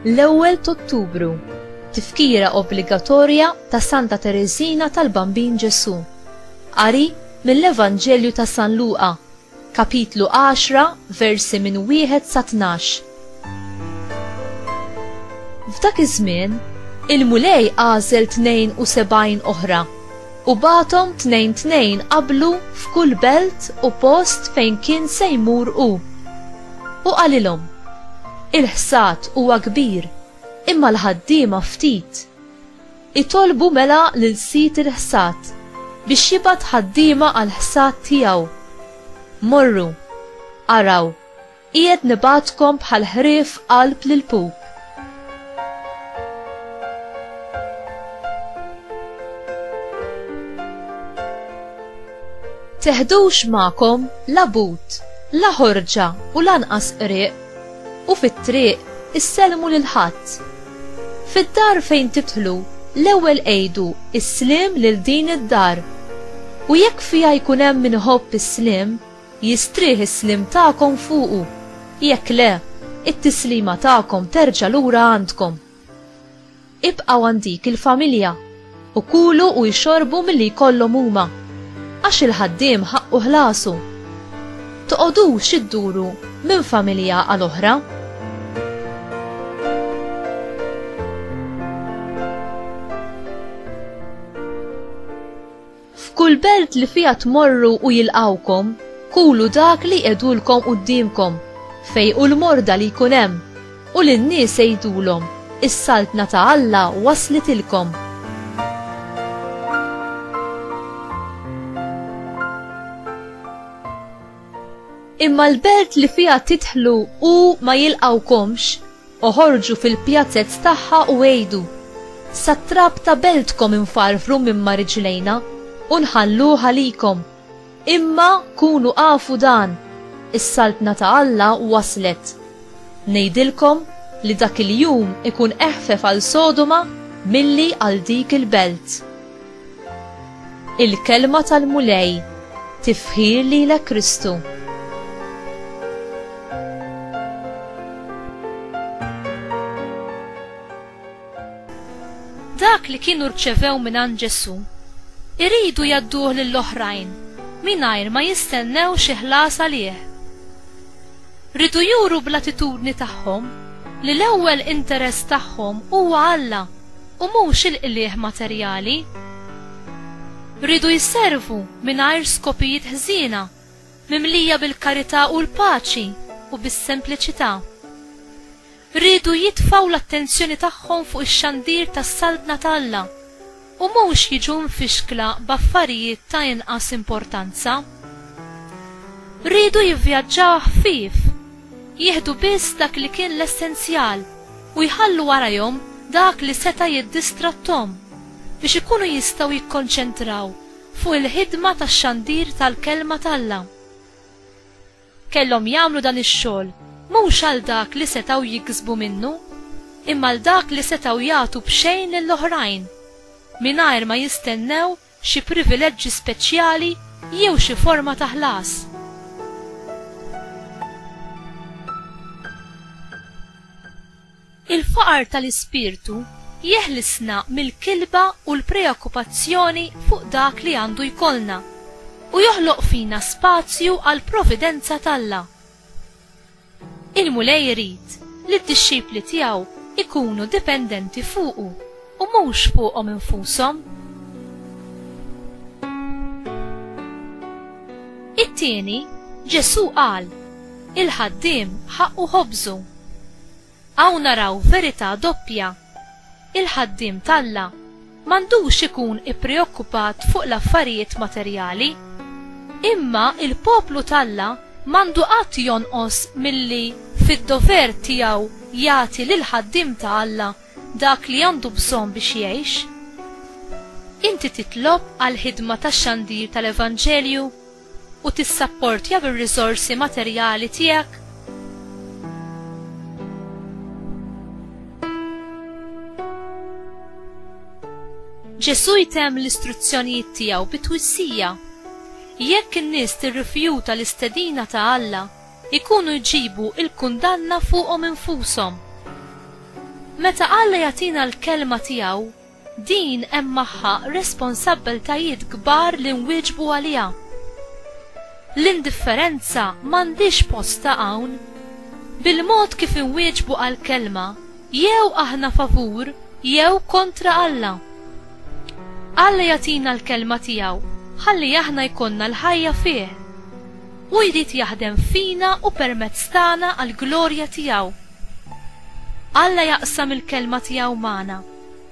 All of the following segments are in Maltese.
L-ewwel t'Ottubru, tifkira obbligatorja ta' Santa Tereżina tal-Bambin Ġesù. Qari mill-Evanġelju ta' San Luqa Kapitlu għaxra, versi minn wieħed sa tnax. F'dak iż-żmien, il-Mulej għażel tnejn u sebgħin oħra, u bagħathom tnejn tnejn qablu f'kull belt u post fejn kien se jmur hu. U qalilhom, Il-ħsad huwa kbir, imma l-ħaddiema ftit. Itolbu mela lil sid il-ħsad biex jibgħat ħaddiema għall-ħsad tiegħu. Morru, araw, qiegħed nibgħatkom bħal ħrief qalb l-ilpup. Teħdux magħkom la but, la ħorġa u lanqas qrieq. u fit-triq issellmu lil ħadd. Fid-dar fejn tidħlu, l-ewwel għidu s-sliem lil din id-dar. U jekk fiha jkun hemm min iħobb is-sliem, jistrieħ is-sliem tagħkom fuqu, jekk le, it-tislima tagħkom terġa' lura għandkom. Ibqgħu għand dik il-familja, u kulu u ixorbu milli jkollhom huma, għax il-ħaddiem ħaqqu ħlasu. Toqgħodux idduru minn familja għal oħra. F'kull belt li fiha tmorru u jilqgħukom, kulu dak li jqegħdulkom quddiemkom, fejqu l-morda li jkun hemm, u lin-nies għidulhom, 'Is-Saltna ta' Alla waslitilkom. Imma l-belt li fiha tidħlu u ma jilqgħukomx, Oħorġu fil-pjazez tagħha u għidu, Sat-trab ta' beltkom infarfru minn ma' riġlejna, u nħalluh għalikom. Imma kunu afu dan, is-Saltna ta' Alla waslet. Ngħidilkom li dak il-jum ikun eħfef għal Sodoma milli għal dik il-belt. Il-Kelma tal-Mulej, tifħir lilek Kristu. Dak li kienu rċevew mingħand Ġesù, iridu jgħadduh lill-oħrajn mingħajr ma jistennew xi ħlas għalih. Ridu juru bl-attitudni tagħhom li l-ewwel interess tagħhom huwa Alla u mhux il-qligħ materjali. Riedu jservu mingħajr skopijiet ħżiena, mimlija bil-karità u l-paċi u bis-sempliċità. Riedu jitfgħu l-attenzjoni tagħhom fuq ix-xandir tas-Saltna ta' Alla u mhux jiġu mfixkla b'affarijiet ta' inqas importanza. Riedu jivvjaġġaw ħfief, jieħdu biss dak li kien l-essenzjal, u jħallu warajhom dak li seta' jiddistratthom biex ikunu jistgħu jikkonċentraw fuq il-ħidma ta' xandir tal-Kelma t'Alla. Kellhom jagħmlu dan ix-xogħol mhux għal dak li setgħu jiksbu minnu, imma għal dak li setgħu jagħtu b'xejn lill-oħrajn, mingħajr ma jistennew xi privileġġi speċjali jew xi forma ta' ħlas. Il-faqar tal-ispirtu jeħlisna mill-kilba u l-preokkupazzjoni fuq dak li għandu jkollna, u joħloq fina spazju għall-providenza t'Alla. Il-Mulej irid li d-dixxipli tiegħu jkunu dipendenti fuqu u mhux fuqhom infushom. It-tieni, Ġesù qal, Il-ħaddiem ħaqqu ħobżu. Hawn naraw verità doppja. Il-ħaddiem t'Alla m'għandux ikun ippreokkupat fuq l-affarijiet materjali. Imma l-poplu t'Alla m'għandu qatt jonqos milli fid-dover tiegħu jagħti lill-ħaddiem ta' Alla dak li għandu bżonn biex jgħix. Inti titlob għall-ħidma tax-xandir tal-evanġelju? u tissapportja bir-riżorsi materjali tiegħek? Ġesù jtemm l-istruzzjonijiet tiegħu bi twissija. Jekk in-nies tirrifjuta l-istedina ta' Alla, ikunu jġibu l-kundanna fuqhom infushom. Meta Alla jagħtina l-kelma tiegħu, Din hemm magħha responsabbiltajiet kbar li nwieġbu għaliha. L-indifferenza m'għandhiex postha hawn. Bil-mod kif inwieġbu għall-Kelma, jew aħna favur jew kontra Alla. Alla jagħtina l-Kelma tiegħu ħalli aħna jkollna l-ħajja fih. Hu jrid jaħdem fina u permezz tagħna għall-glorja tiegħu. Alla jaqsam il-Kelma tiegħu magħna.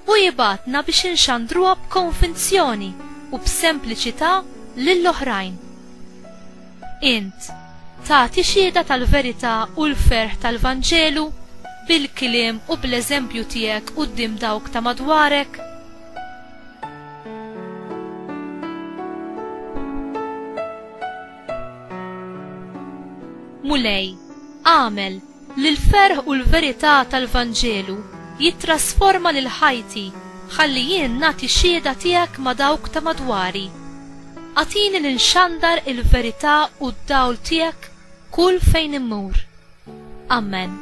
Hu jibgħatna biex inxandruha b'konvinzjoni u b'sempliċità lil oħrajn. Int tagħti xhieda tal-verità u l-ferħ tal-Vanġelu bil-kliem u bl-eżempju tiegħek quddiem dawk ta' madwarek? Mulej, agħmel Li l-ferħ u l-verità tal-Vanġelu jittrasforma lil ħajti ħalli jien nagħti xhieda tiegħek ma' dawk ta' madwari. Agħtini li nxandar il-verità u d-dawl tiegħek kull fejn immur. Amen.